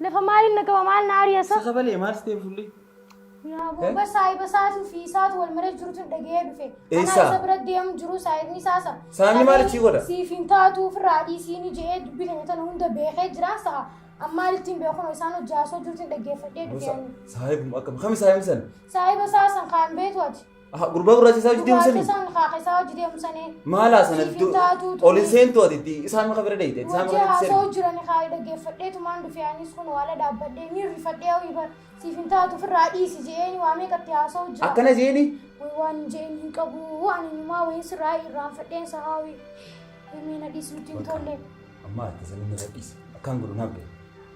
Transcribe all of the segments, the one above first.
Lafa maaliin na qaba maal na ari'a sa? Sasa balee maal siteen fulli? Yaa gurba saahiba isaatu fi isaatu wal maree jirutu dhaga'ee dhufe. Eessa? Anaa isa bira deemu jiru saahibni isaa sa. Saahibni maal achii godha? Siif hin taatu ofirraa dhiisiini jedhee dubbii keenya tana hunda beekee jira sa'a. Ammaan ittiin beekun isaan hojii haasoo jirutu dhaggeeffadhee dhufe. Saahibum akkam kami saahibni san? Saahiba isaa san kaan beetu ati. Aha, gurbaa gurraacha isaa hojii deemsanii? Isaan kaaka isaa hojii deemsanii. Maala sana Siif hin taatu ol hin seentu ati itti isaan maka bira deeyte. Isaan Hojii maka itti haasoo seentu. jiran kaa dhaggeeffadheetu maan dhufee anis kun waala dhaabbadhee ni rifadhee hawii bar siif hin taatu ofirraa dhiisi je'een waa meeqatti haasoo jira. Akkana jeeni Way waan hin je'een hin qabu ani numaa wayin sirraa irraanfadheen sa haawii. Himii na dhiisi nutti hin tolle. amma ati sana na gadhiisi. Akkaan godhu naaf gahe.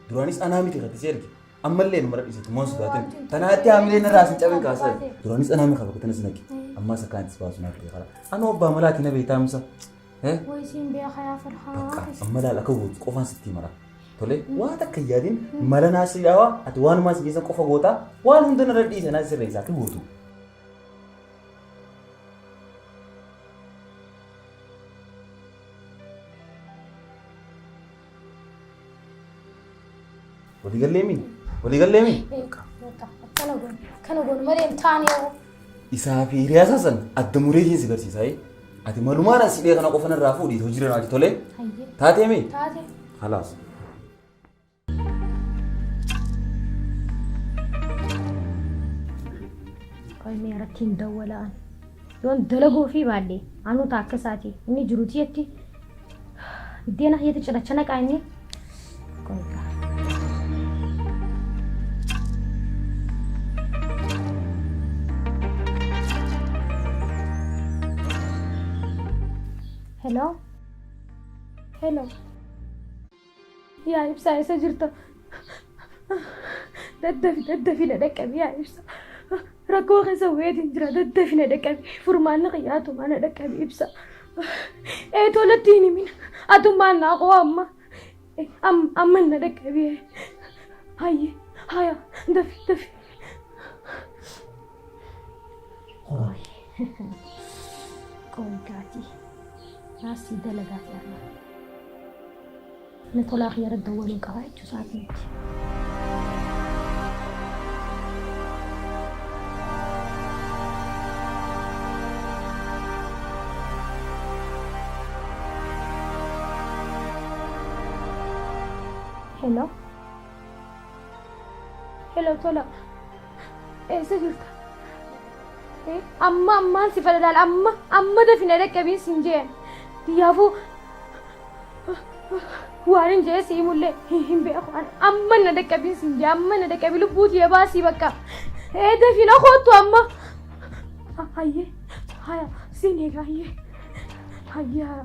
Duraanis anaa miti katti si erge. Ammallee nu mara dhiisatu moon sodaatin. Tanaatti haamilee narraa sin cabin kaasa. Duraanis anaa mi qaba kutana sinaqi. Ammaa isa kaan itti baasu naaf ta'e kara. Anoo abbaa malaati na beektaa musa. Eh? Way siin beekaa yaa farhaa. Bakka amma laal akka gootu qofaan sitti mara. Tole waan takka hin yaadin mala naa sirreessaa ati waanumaa si keessan qofa gootaa waan hunda narra dhiisa naa sirreessa akka gootu. Walii gallee mii? Walii gallee mii? Akkana goonu. Akkana goonu malee hin taane hoo. Isaa fi hiriyaa isaa san adda muree isheen si garsiisa. eh? Ati malumaan as hidhee kana qofan irraa fuudhiit hojii irraa naati tolee? Hayyee. Taatee mii? Taate. Halaas. Qoy mee irratti hin dawwalaan. Yoon dalaguu ofii baadhe anuu taa akka isaati inni jiru tiyyatti biddeena hiyyatti cinacha naqaa inni Qoygaa. Hello? Hello? Yaa ibsaa eessa jirta? Daddafi daddafi na dhaqqabi yaa ibsa. Rakkoo keessa wayiitiin jira daddafi na dhaqqabi. Furmaanni kiyya atumaa na dhaqqabi ibsa. Ee tolatti hin himin atummaan naa koo amma am- amma na dhaqqabi. Hayye haya dafi dafi. Qoy. Qoy gaati. Raasii dalagaa jaalala. Na tolaa kiyya irratti dawwaluun qaba jechuu isaati miti. Hello. Hello tola. Eessa jirta? Eh, Amma ammaan si fadalaal amma amma dafina dhaqqabiin siin jeen. Kiyyaafuu waan hin jee sii mullee hin hin beeku an amma na dhaqqabiin siin jee amma na dhaqqabii lubbuu tiyya baasii bakka. Eh dafina koottu amma. Ah, Hayyee haya siin eega hayyee hayyee haya.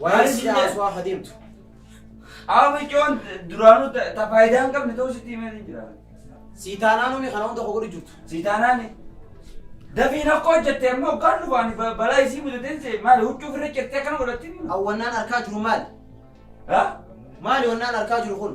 Waan si dhaasu haa deemtu. Aaba ijoon duraanuu ta- ta faayidaa hin qabne ta'uu sitti himee hin jira. Sii taanaan umi kana hunda koo godhu jirtu. Sii taanaani. Dafiin akka hojjette amma hoggaan dhufaan ba- balaa isii mudateen see maali huccuu ofirra cirtee akkana godhattiin. Awwannaan arkaa jiru maali? Ha? Maali wannaan arkaa jiru kun?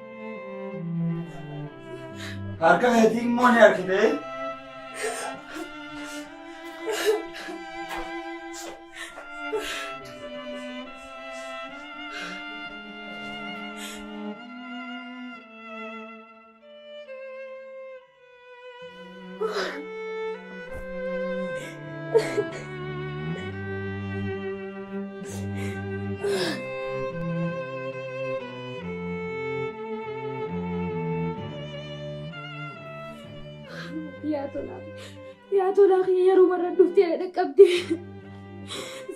Harka keetii immoo ni harkitee? Yaa tolaa, yaa tolaa kiyya yeroo warra dhuftee na dhaqqabde.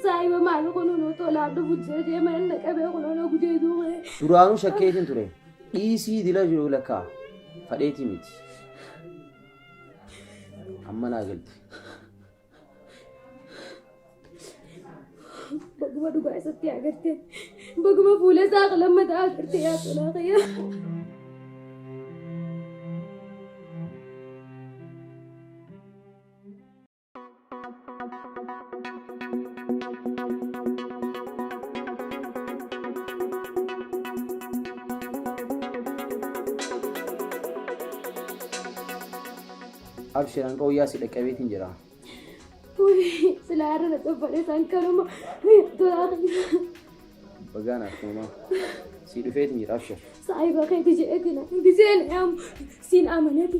Saayiba maal kunuunoo tolaa dhufu jedhee mana na qabee kunuunoo gudee duuba. Duraanuu shakkee isin ture. Dhiisii dila jiru lakkaa fadheetii miti amma naa galte. Baguma dhugaa isatti agartee. Baguma fuula isaa lammataa agartee yaa tolaa kiyyaa. Abshir an qawwee asii dhaqqabeetiin jira. Silaa irra na xabbalee isaan kanuma tolaa Bagaan akkuma sii dhufeetiin jira abshir. saayiba keeti jedheetiin giseen dhaamu siin amaneeti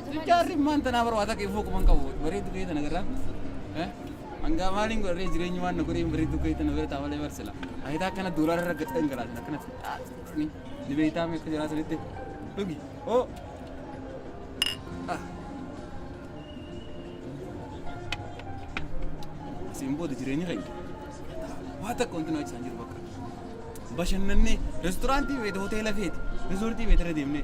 Jaarri maan tanaa bara waa takka ifuu kuman qabu bareeddu kee tana garraa. Hangaa maaliin godharee jireenyi waan na godhee bareeddu kee tana bira taa'alee barsila. Ayitaa akkana doolaara irra gadhan galaatan akkanatti. Ni beektaa meeqa jiraa sanitti. Dhugi. Oo. Siin booda jireenyi keenya. Waa takka wanti nu achisan jiru bakka. Bashannannee restoraantii beekte hoteela feeti. Rezoortii beekte irra deemnee.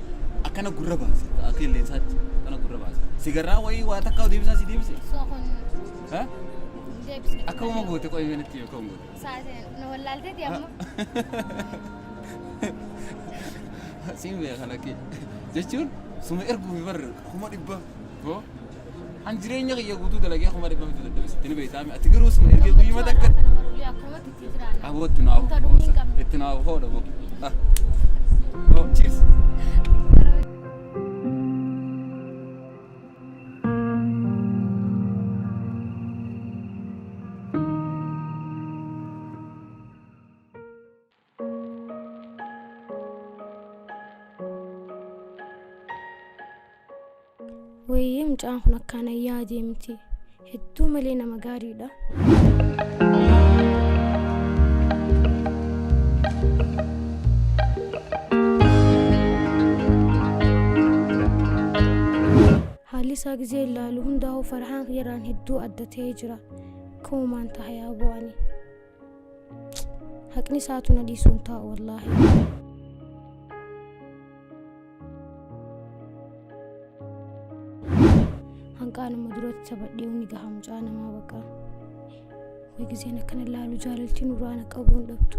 akkana gurra baasa akka qilleensaatti akkana gurra baasa sigarraa wayii waa takka deebisaa si deebise Soo kun ha? deebisne. akka uma goote qo'ee kanatti yoo ka'u goote Saatiin nu wallaalteeti amma. siin beeka lakkee jechuun suma erguufi barre kuma dhibba hoo An jireenya kiyya guutuu dalagee kuma dhibba miti dadhabe sitti ni beektaami. Ati garuu suma ergee guyyuma takka aboo itti naa ofu hoosa. Itti naa ofu hoodha boo. Ah. Oh, cheers. Wayyee mucaan kun akkaan ayyaa adeemti. Hedduu malee nama gaariidha. Haalli isaa gizee ilaalu hundaa'u farhaan yeraan hedduu adda ta'ee jira. Kuumaan tahayaa bu'anii. haqni isaatu na dhiisuun taa'u wallaahi. hanqaanuma duratti sabadhee inni gaha mucaa namaa baqa. Way gizeen akkana laalu jaalaltiin uraana qabuun dhabdu.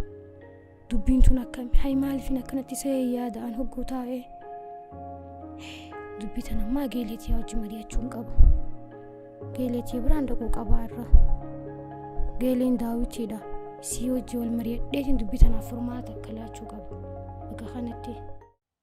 dubbiin tun akkami hay maaliifin akkanatti isa yaada'an hogguu taa'e dubbii tan ammaa geeleetiyaa wajji mari'achuu hin qabu geeleetii biraan dhaquu qabaa irra geeleen daawitiidha isii wajji wal mari'adheetiin dubbii tanaaf furmaata akka laachuu qaba bakka kanatti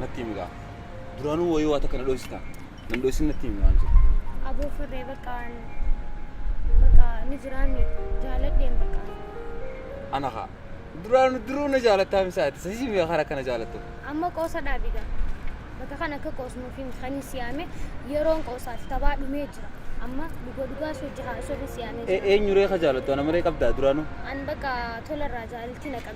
Natti himi gaa. Duraanuu wayii waa takka na dhoysita. Nan dhoysin natti himi waan jiru. Aboo firree bakka bakka ni jiraanni jaaladheen bakka. Ana haa. Duraanuu duruu na jaalattaa misaati. Sasii mi'a karaa kana jaalattu. Amma qoosa dhaabi gaa. Bakka kan akka qoosnuuf hin kan hin siyaame yeroon qoosaati tabaa dhumee jira. Amma dhugaa dhugaa soo jahaa soo hin siyaamee jira. Eenyuree ka jaalattu ana malee qabdaa duraanuu. An bakka tolarraa jaalalti na qabe.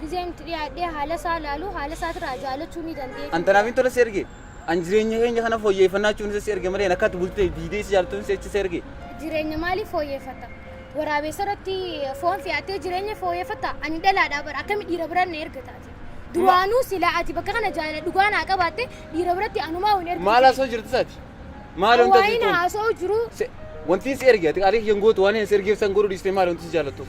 Gizeen itti dhiyaadhee haala isaa ilaalu haala isaatirraa jaalachuu ni dandeenya. An tanaaf hin tola si erge. An jireenya keenya kana fooyyeffannaa jechuun isa si erge malee akka ati bultee diidee si jaaltuun si si erge. Jireenya maalii fooyyeffata? Waraabessa irratti foon fe'attee jireenya fooyyeffata? Ani dhalaadhaa bara akkami dhiira biraan na erga taate? Duraanuu silaa ati bakka kana jaalala dhugaa naa qabaatte dhiira biratti anumaa hin ergu. Maal haasoo jirti isaati? Maal wanti ati Hawaayin jettuun? haasoo jiru Se- Wanti si erge ati qaalii hin gootu waan hin si ergeef san godhu dhiistee maal wanti si jaallattuuf?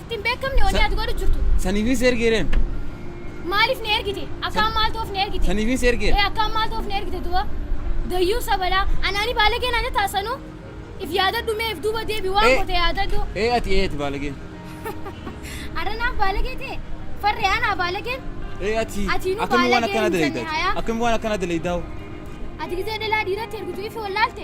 Ittiin beekamne wanni ati godhu jirtu. Saniifin si ergeereen. Maaliif na ergite? Akkaan maaltu of na ergite? Saniifin si ergeera. Ee akkaan maaltu of na ergite duuba? Dayyuu sabalaa. Anaani baalagee naan jettaa sanuu? If yaadadhu mee if duuba deebi waan Ee. goote yaadadhu. Ee ati ee ati baalageen. Arra naaf baalagee ta'e. Farree anaa baalageen. Ee ati Ati nu akkamiin waan baalagee akkana hin jenne, daleeydaa? hayaa. Akkamiin waan akkana daleeydaa? Ati gizee dhalaa dhiiratti ergitu ifi wallaalte.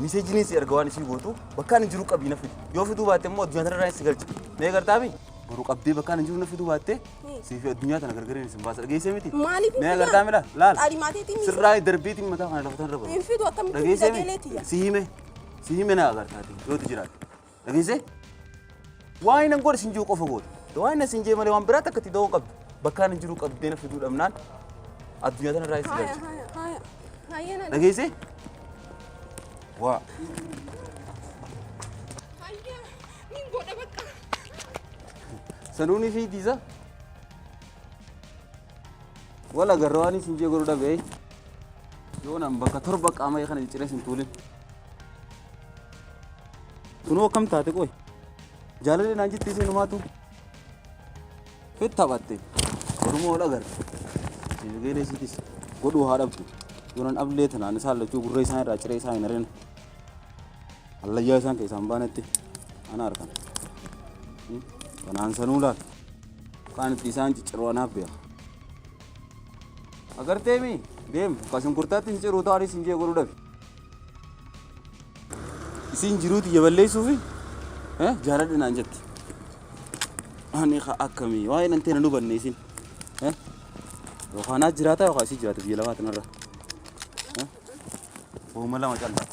Miseejiniin si erga waan ishii gootu bakkaan hin jiru qabii na fidi. Yoo fiduu baatte immoo addunyaa tanarraa si galcha. Mee gartaami? Boru qabdee bakkaan hin jiru na fiduu baatte sii fi addunyaa tana gargariin isin baasa dhageessee miti. Maaliif Mee gartaami laal laal. Xaalimaatiitiin ni Sirraa darbiitiin mataa kana lafa tanarra baru. Hin fidu akkamitti Dhageessee sagalee miti. tiyya. Si hime si hime na agartaati yoo ti jiraate. Dhageessee? Waa inni godhe sin jiru qofa goota. Waa inni sin jee malee waan biraatti akka itti da'oo qabdu. Bakkaan hin jiru qabdee na fiduu dhabnaan addunyaa tanarraa itti Haaya, galcha. haaya, haaya. Haaya na Dhageessee? Waa. Haaya, niin godha bakka. Sanuunii fi diisaa. Wal agarra waan isin jee godhu dhabee. Yoo nan bakka torba qaama kana jijjiiree sin tuulin. Kunoo akkam taate qoy. Jaalalli naan jettee seenumaatu. Fit taphatte. Oromoo ol agarre. Eegalee isiitis godhuu haa dhabdu. Yonan ablee tanaan isaan lachuu gurra isaan irraa ciree isaa hin arina. Hallayyaa isaan keessaan baanetti ana arkan. Kanaan sanuu laal. Kaan itti isaan cicciruu anaaf beeka. Agartee mi? Deem, kasin kurtaatti hin ciruu taaris hin jee godhuu dhabe. Isiin jiruu tiyya balleessuufi eh, jaaladhe naan jette. Ani ka akkamii waa'ee nan teena nu banne isiin. Eh, Yookaan naa jiraataa yookaan isii jiraata biyya lafaa tanarra. Eh, Hooma lama callaa.